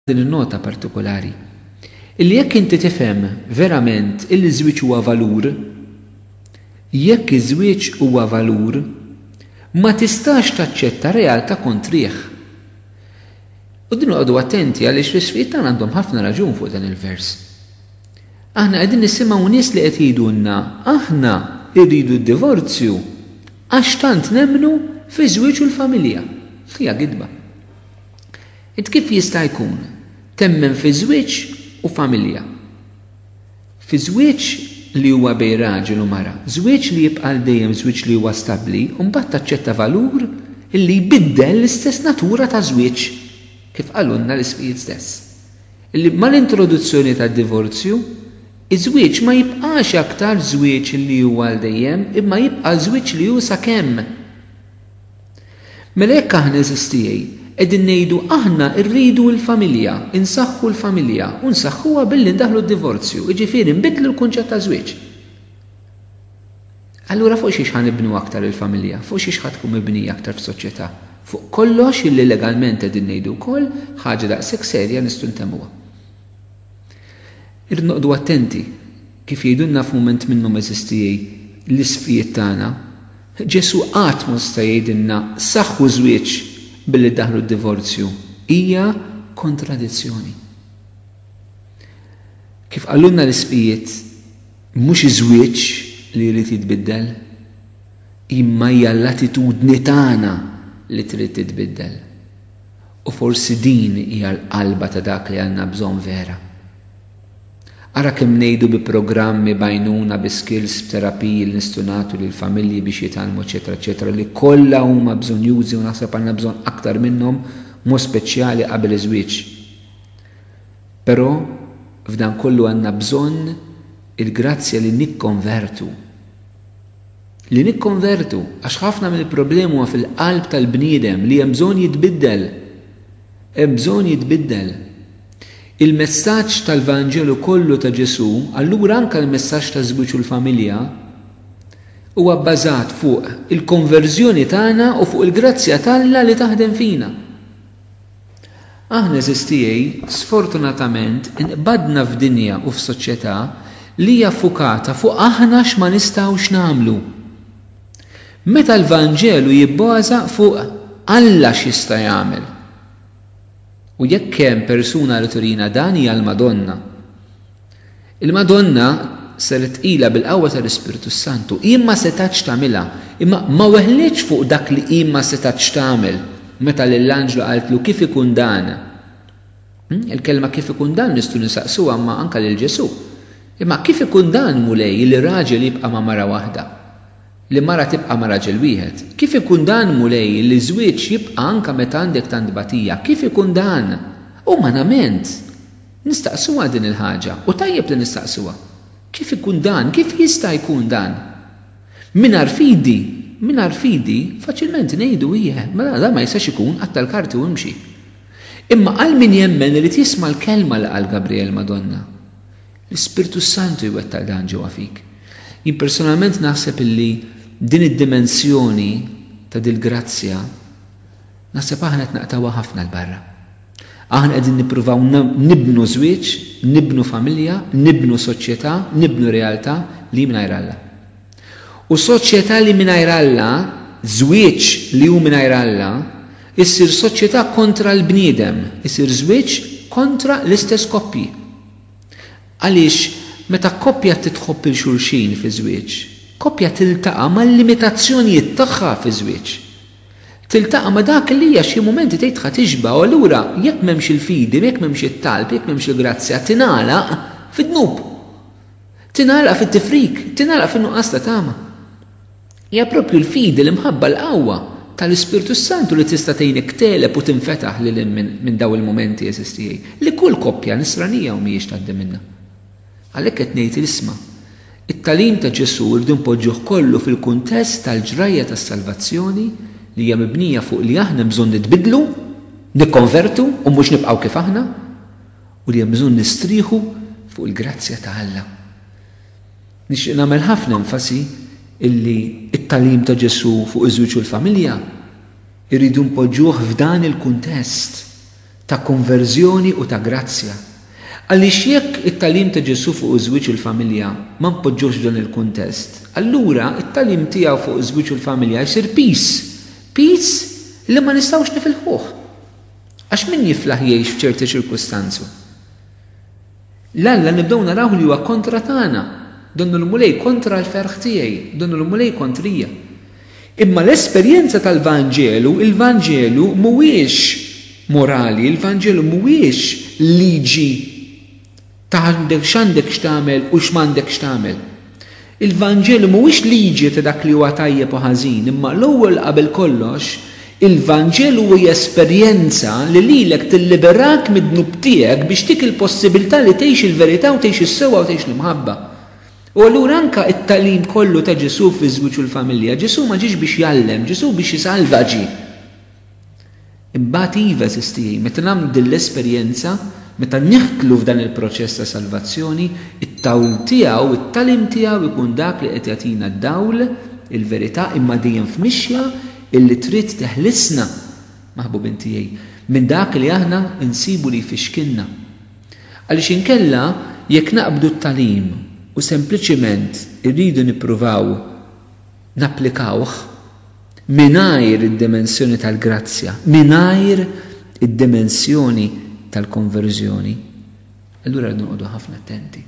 din in-nota partikulari, illi jekk inti tifhem verament illi ż-żwieġ huwa valur, jekk iż-żwieġ huwa valur, ma tistax taċċetta realtà kontrih. U din noqogħdu attenti għaliex l-isfid tagħna għandhom ħafna raġun fuq dan il-vers. Aħna qegħdin nisimgħu nies li qed jgħidulna aħna rridu d-divorzju għax tant nemmnu fiż-żwieġ u l-familja. Hija gidba. Int kif jista' jkun temmen fi żwieġ u familja? Fi żwieġ li huwa bejn raġel u mara, żwieġ li jibqa' għal dejjem żwieġ li huwa stabbli u mbagħad taċċetta valur li jbiddel l-istess natura ta' żwieġ, kif qalulna l-ismijiet stess, li mal-introduzzjoni tad-divorzju, iż-żwieġ ma jibqax aktar żwieġ li huwa għal dejjem imma jibqa' żwieġ li hu sakemm. Mela jekk aħna għeżież tiegħi qegħdin ngħidu aħna rridu l-familja, insaħħu l-familja u nsaħħuha billi ndaħħlu d-divorzju, jiġifieri nbiddlu l-kunċett ta' żwieġ. Allura fuq xiex ħa nibnu aktar il-familja, fuq xiex ħa tkun mibnija aktar f'soċjetà. Fuq kollox illi legalment qegħdin ngħidu wkoll ħaġa daqshekk serja nistgħu ntemmuha. Irrid noqogħdu attenti Kif jgħidulna f'mument minnhom eżistijie l-isqfijiet tagħna, Ġesù qatt ma seta' jgħidilna saħħu żwieġ billi daħħlu d-divorzju. Hija kontradizzjoni. Kif qalulna l-isqfijiet, mhux iż-żwieġ li jrid jitbiddel, imma hija l-attitudni tagħna li trid titbiddel. U forsi din hija l-qalba ta' dak li għandna bżonn vera. Ara kemm ngħidu bi programmi, b'għajnuna, bi skills, b'terapiji li nistgħu nagħtu lill-familji biex jitgħallmu eċċetera eċċetera li kollha huma bżonjużi u naħseb għandna bżonn aktar minnhom b'mod speċjali qabel iż-żwieġ. Però f'dan kollu għandna bżonn il-grazzja li nikkonvertu. Li nikkonvertu għax ħafna mill-problemi huma fil-qalb tal-bniedem li hemm bżonn jitbiddel. Hemm bżonn jitbiddel. Il-messaġġ tal-Vanġelu kollu ta' Ġesù, allura anke l-messaġġ taż-żwieġ u l-familja, huwa bbażat fuq il-konverżjoni tagħna u fuq il-grazzja t'Alla li taħdem fina. Aħna, għeżież tiegħi, sfortunatament inqbadna f'dinja u f'soċjetà li hija ffukata fuq aħna x'ma nistgħux nagħmlu. Meta l-Vanġelu jibbaża fuq Alla x'jista' jagħmel. U jekk hemm persuna li turina dan hija l-Madonna. Il-Madonna saret tqila bil-qawwa tal-Ispirtu s-Santu. Hi ma setgħetx tagħmilha, imma ma weħlitx fuq dak li hi ma setgħetx tagħmel meta lill-anġlu qaltlu kif ikun dan. Hmm, il-kelma kif ikun dan nistgħu nisaqsuha ma anke lil Ġesù. Imma kif ikun dan Mulej li raġel jibqa' ma' mara waħda? li mara tibqa' ma' raġel wieħed. Kif ikun dan, Mulej, li żwieġ jibqa' anke meta għandek tant tbatija? Kif ikun dan? Umanament, nistaqsuha din il-ħaġa, u tajjeb li nistaqsuha. Kif ikun dan? Kif jista' jkun dan? Mingħajr fidi, mingħajr fidi, faċilment ngħidu, Ijeh, mela dan ma jistax ikun, qatta' l-karti u imxi. Imma għal min jemmen irid jisma' l-kelma li qal Gabriel, Madonna. L-Ispirtu s-Santu jwettaq dan ġewwa fik. Jien personalment naħseb illi din id-dimensjoni ta' dil-grazzja naħseb aħna qed naqtgħuha ħafna 'l barra. Aħna qegħdin nippruvaw nibnu żwieġ, nibnu familja, nibnu soċjetà, nibnu realtà li hi mingħajr Alla. U soċjetà li mingħajr Alla, żwieġ li hu mingħajr Alla, issir soċjetà kontra l-bniedem, isir żwieġ kontra l-istess koppji. Għaliex meta koppja titħobb 'il xulxin fiż-żwieġ, koppja tiltaqa' mal-limitazzjonijiet tagħha fiż-żwieġ. Tiltaqa' ma' dak li hija xi mumenti tgħidha tixba' u allura jekk m'hemmx il-fidi, jekk m'hemmx it-talb, jekk m'hemmx il-grazzja tingħalaq fid-dnub. Tingħalaq fit-tifrik, tingħalaq fin-nuqqas ta' tama. Hija proprju l-fidi, l-imħabba, l-qawwa tal-Ispirtu s-Santu li tista' tgħinek tegħleb u tinfetaħ lil hinn minn dawn il-mumenti, għeżież tiegħi, li kull koppja Nisranija hawn m'hijiex tgħaddi minnha. Għalhekk qed ngħid l-isma'. It-tagħlim ta' Ġesù rridu npoġġuh kollu fil-kuntest tal-ġrajja tas-salvazzjoni li hija mibnija fuq li aħna hemm bżonn nitbiddlu, nikkonvertu u mhux nibqgħu kif aħna, u li hemm bżonn nistrieħu fuq il-grazzja ta' Alla. Nixtieq nagħmel ħafna enfasi illi t-tagħlim ta' Ġesù fuq iż-żwieġ u l-familja rridu npoġġuh f'dan il-kuntest ta' konverżjoni u ta' grazzja. Għaliex jekk it-tagħlim ta' Ġesù fuq iż-żwieġ u l-familja ma npoġġuhx f'dan il-kuntest, allura t-tagħlim tiegħu fuq iż-żwieġ u l-familja jsir piż, piż li ma nistgħux nifilħuh. Għax min jiflaħ jgħix f'ċerti ċirkustanzu? L-Alla nibdew narawh li huwa kontra tagħna. Donnu l-Mulej kontra l-ferħ tiegħi, donnu l-Mulej kontrija. Imma l-esperjenza tal-Vanġelu, il-Vanġelu mhuwiex morali, il-Vanġelu mhuwiex liġi ta' x'għandek x'tagħmel u x'm'għandekx tagħmel. Il-Vanġelu mhuwiex liġi ta' dak li huwa tajjeb u ħażin, imma l-ewwel qabel kollox, il-Vanġelu hi esperjenza li lilek tilliberak mid-dnub tiegħek biex tik il-possibilità li tgħix il-verità u tgħix is-sewwa u tgħix l-imħabba. U allura anke t-tagħlim kollu ta' Ġesù fiż-żwieġ u l-familja, Ġesù ma ġiex biex jgħallem, Ġesù biex isalva ġie. Imbagħad iva, għażiż tiegħi, meta nagħmlu din l-esperjenza, meta nidħlu f'dan il-proċess ta' salvazzjoni, it-tawl tiegħu, it-tagħlim tiegħu jkun dak li qed jagħtina d-dawl, il-verità, imma dejjem f'mixja illi trid teħlisna, maħbubin tiegħi, minn dak li aħna nsibu li jfixkilna. Għaliex inkella, jekk naqbdu t-tagħlim u sempliċement irridu nippruvaw, napplikawh mingħajr id-dimensjoni tal-grazzja, mingħajr id-dimensjoni tal-konverżjoni, allura rridu noqogħdu ħafna attenti.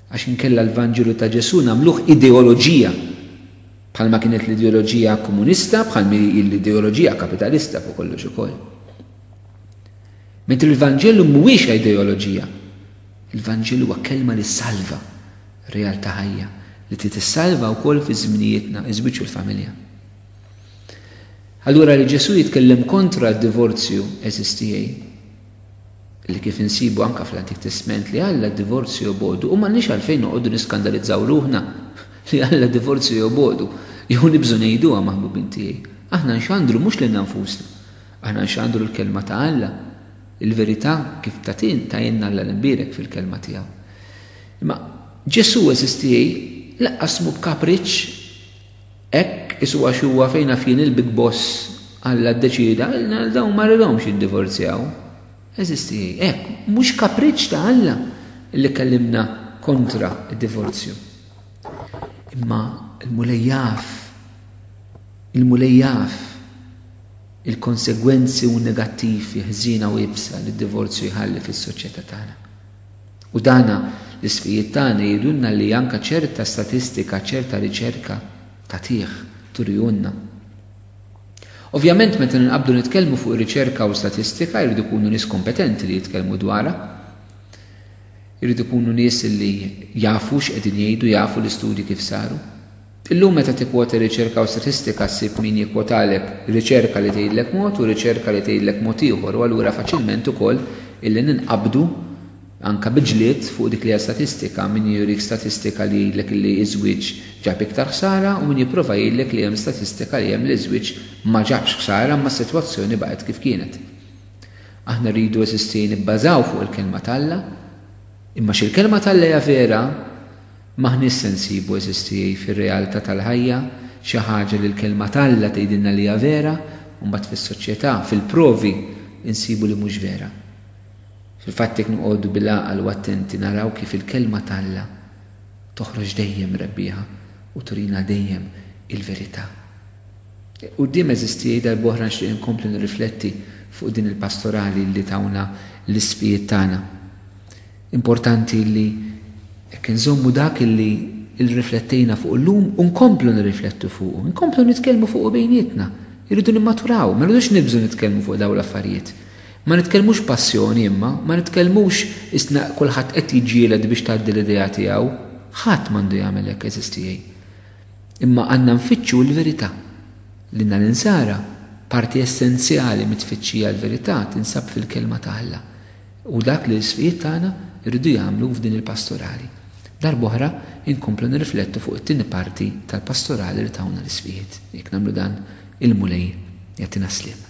Għax inkella l-Vanġelu ta' Ġesù nagħmluh ideoloġija, bħalma kienet l-ideoloġija komunista, bħalmi hi l-ideoloġija kapitalista fuq kollox ukoll. Mentri l-Vanġelu mhuwiex ideoloġija, il-Vanġelu huwa kelma li salva. Realtà ħajja li trid issalva wkoll fi żminijietna, iż-żwieġ u l-familja. Allura li Ġesù jitkellem kontra d-divorzju għeżież tiegħi, li kif insibu anke fl-Antik Testment li Alla d-divorzju jobogħdu u m'għandniex għalfejn noqogħdu niskandalizzaw ruħna li Alla d-divorzju jobogħdu jew nibżgħu ngħiduha maħbubin tiegħi. Aħna nxandru mhux lilna nfusna. Aħna nxandru l-kelma ta' Alla, il-verità kif tagħtin tgħinna Alla l-imbierek fil-kelma tiegħu. Imma Ġesù, għeżież tiegħi, laqqas mhu b'kapriċċ hekk isu għax huwa fejn naf jien il-big boss Alla ddeċieda għal dawn ma ridhomx jiddivorzjaw. Għeżież tiegħi, hekk mhux kapriċċ ta' Alla li kellimna kontra d-divorzju. Imma l-Mulej jaf, il-Mulej jaf il-konsegwenzi u negattivi ħżiena u iebsa li d-divorzju jħalli fis-soċjetà tagħna. U dana l-isqfijiet tagħna jgħidulna li anka ċerta statistika, ċerta riċerka tagħtih, turihulna. Ovvjament meta ninqabdu nitkellmu fuq riċerka u statistika jridu jkunu nies kompetenti li jitkellmu dwarha. Jridu jkunu nies li jafu x'qegħdin jgħidu, jafu l-istudji kif saru. Illum meta tikkwota riċerka u statistika ssib min jikkwotalek riċerka li tgħidlek mod u riċerka li tgħidlek mod ieħor u allura faċilment ukoll illi ninqabdu anke bi ġlied fuq dik li hija statistika, min jurik statistika li jgħidlek illi ż-żwieġ ġab iktar ħsara u min jipprova jgħidlek li hemm statistika li hemm li ż-żwieġ ma ġabx ħsara imma s-sitwazzjoni baqgħet kif kienet. Aħna rridu eżisti nibbażaw fuq il-Kelma t'Alla. Imma x'il-Kelma t'Alla hija vera, M'aħniex se nsibu, għeżież tiegħi, fir-realtà tal-ħajja xi ħaġa li l-Kelma t'Alla tgħidilna li hija vera u mbagħad fis-soċjetà, fil-provi, insibu li mhux vera. Fil-fatt jekk noqogħdu bil-għaqal u attenti naraw kif il-Kelma t'Alla toħroġ dejjem rebbieħa u turina dejjem il-verità. Quddiem, għeżież tiegħi, darb'oħra nixtieq inkompli nirrifletti fuq din il-pastorali li tawna l-isqfijiet tagħna. Importanti li hekk inżommu dak li rriflettejna fuqu llum u nkomplu nirriflettu fuqu, inkomplu nitkellmu fuqu bejnietna. Irridu nimmaturaw, ma rridux nibżgħu nitkellmu fuq dawn l-affarijiet. Ma nitkellmux b'passjoni imma, ma nitkellmux qisna kulħadd qed jiġġieled biex tgħaddi l-idea tiegħu. Ħadd m'għandu jagħmel hekk għeżież tiegħi. Imma għandna nfittxu l-verità. Lilna l-Insara, parti essenzjali mit-tfittxija għall-verità tinsab fil-Kelma ta' Alla. Hu dak li l-sfijiet tagħna jridu jagħmlu f'din il-Pastorali. Darb'oħra nkomplu nirriflettu fuq it-tieni parti tal-Pastorali li tawna l-isfijiet. Jekk nagħmlu dan, il-Mulej jagħtina sliem.